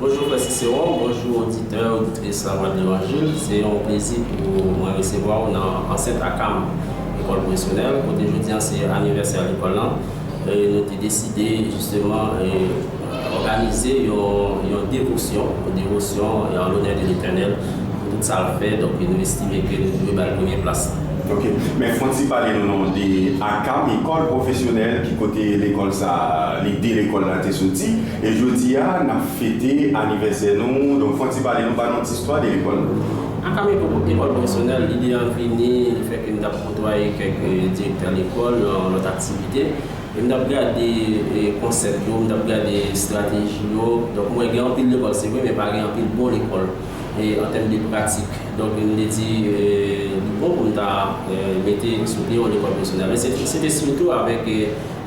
Bonjou frè Ciceron, bonjou oditè, oditrice La Voix de l'Evangile. Se yon plezi pou mwen resevwa ou nan ansent akam Lekòl Pwofesyonèl kote jodi an se anivèsè lekòl lan e nou te deside jisteman òganize yon devosyon, yon devosyon an lonè de Letènèl pou tout sa l fè. Donk nou estime ke nou dwe ba l premye plas la. Ok, men fon ti pale nou non de akam Ekòl Pwofesyonèl, ki kote lekòl sa, lide lekòl la te soti. E jodi a nap fete anivèsè nou donk fon ti pale nou pa nou ti istwa de lekòl nou. Ak ame ekòl pwofesyonèl, lide an vini le fè ke m tap kotwaye kèk direktè lekòl nan lòt aktivite e m tap gade konsèp yo, m tap gade estrateji yo, donk m wè gen anpil lekòl se vre men pa gen anpil bon lekòl an tèm de pratik donk m te di li bon pou m ta mete sou pye yon lekòl pwofesyonèl e se te sitou avèk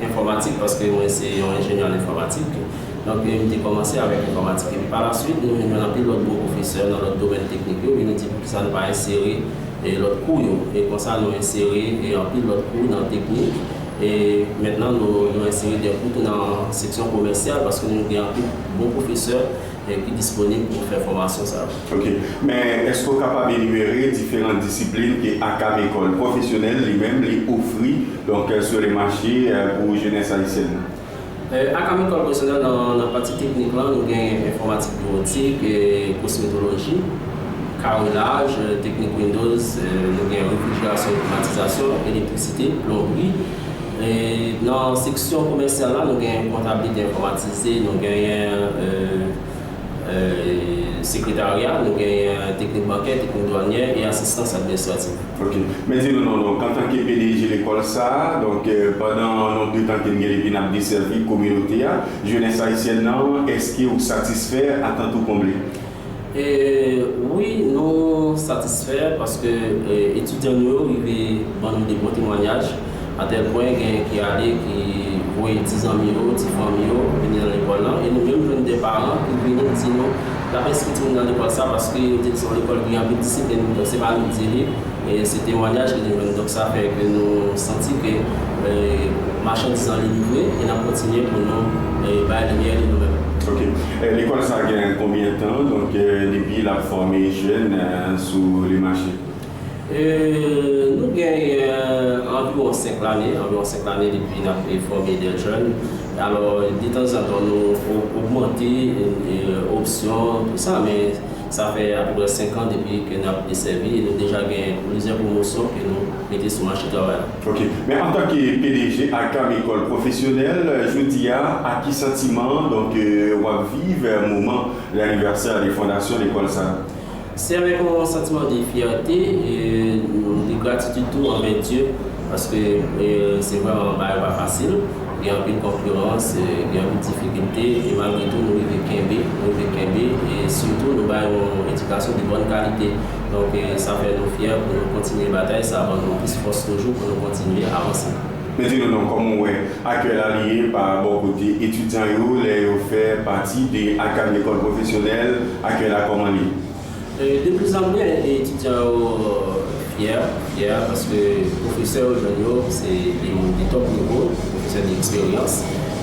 Enfòmatik paske mwen se yon enjenyè an enfòmatik. Donk m te kòmanse avèk enfòmatik epi pa lasuit nou vin jwenn anpil lòt bon pwofesè nan lòt domèn teknik yo epi nou di poukisa nou pa ensere lòt kou yo e konsa nou ensere anpil lòt kou nan teknik e mentnan nou ensere de kou tou nan seksyon komèsyal paske nou gen anpil bon pwofesè Nèg ki disponib pou fè fòmasyon sa yo. Ok. Men, èske w kapab enimere diferan disiplin ke akab Ekòl Pwofesyonèl li menm li ofri, donk, sur le marché, pou jenès ayisyèn nan? Akab Ekòl Pwofesyonèl nan pati teknik lan, nou gen Enfòmatik Biwotik, Kosmetoloji, Karenaj, Teknik Windows, nou gen Refrijerasyon e Klimatizasyon, Elektrisite, Plonbri, Nan seksyon komèsyal la, nou gen kontablite enfòmatize, nou genyen sekretarya, nou genyen teknik bankè, teknik dwanyè e asistans administratif. Ok. Mwen di nou non donk antanke pdg lekòl sa a, donk pandan non de tan ke n gen depi n ap desèvi kominote a, jenès ayisyèn nan, èske ou satisfè? Atant ou konble? Wi nou satisfè paske etidyan nou yo rive ban nou de bon temwanyaj atèl pwen gen ki ale ki voye ti zanmi yo, ti fanmi yo vini nan lekòl lan e nou menm jwenn de paran ki vini di nou l ap enskri timoun yo nan lekòl sa paske yo te di se yon lekòl ki gen anpil disiplin donk se pa nou ki di li men se temwanyaj ke nou jwenn donk sa fè ke nou santi ke machandiz lan li livre e n ap kontinye pou nou bay limyè li nou menm. Ok. Lekòl sa gen konbyen tan donk depi lap fòme jèn sou le mache? Nou gen anviwon 5 lane, anviwon 5 lane depi nap fòme dè jèn. Alò detanzantan nou ogmante opsyon tout sa men. Sa fè apeprè 5 an depi ke n ap desèvi e nou deja gen plizyè pwomosyon ke nou mete sou mache travay la. Ok. Men an tan ke pdg Arcam Ecole Professionnelle, jodi a, ak ki santiman donk w ap viv moman l'anniversaire de fondation lekòl sa a? Se avèk yon santiman de fyète e de gratitid tou anvè Dye paske se vrèman yon bagay pa fasil. Gen anpil konkirans, gen anpil difikilte e malgre tou nou rive kenbe, nou rive kenbe e sitou nou bay yon edikasyon de bòn kalite. Donk sa fè nou fyè pou nou kontinye batay, sa ban nou plis fòs toujou pou nou kontinye avanse. Men di nou non, kòman w wè akyèy la li ye pa bò kote etidyan yo lè yo fè pati de Agam Lekòl Pwofesyonèl, akyèy la kòman li? De pli zan pli etidyan yo fyè, fyè paske pwofesè yo jwenn yo se de moun de top nivo, pwofesè de eksperyans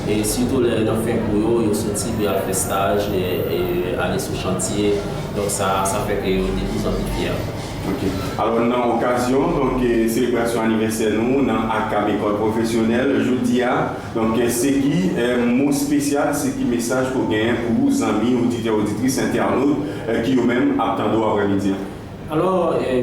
e sitou lè nan fen kou yo, yo soti pou y al fè staj, ale sou chantye, donk sa a, sa fè ke yo de pli zan pli fyè. Ok. Alò nan okazyon donk selebrasyon anivèsè nou nan ACAP Ecole Professionnelle jodi a, Donk se ki mo spesyal, se ki mesaj ke w genyen pou zanmi, oditè, oditris, entènot ki yo menm ap tande w aprè midi an? Alò,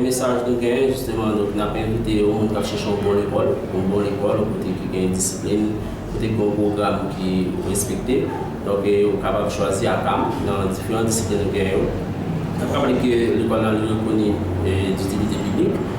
mesaj nou genyen jisteman, donk n ap envite yon moun k ap chèche yon bon lekòl, yon bon lekòl, yon kote ki gen disiplin, kote ki gen yon pwogram ki respekte. Donk ou kapab chwazi UQAM nan diferan disiplin nou genyen yo. N ap raple ke lekòl nan li rekoni ditilite piblik.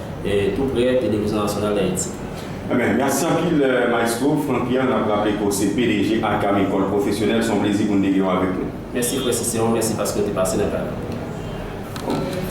tou prè Televizyon Nasyonal Dayiti. Anben, mèsi anpil Maestro Franck Pierre, nap raple ke w se pdg Agam Ecole Professionnelle, se yon plezi pou n te gen w avèk nou. Mèsi frè Cicéron, mèsi paske w te pase nan kay la.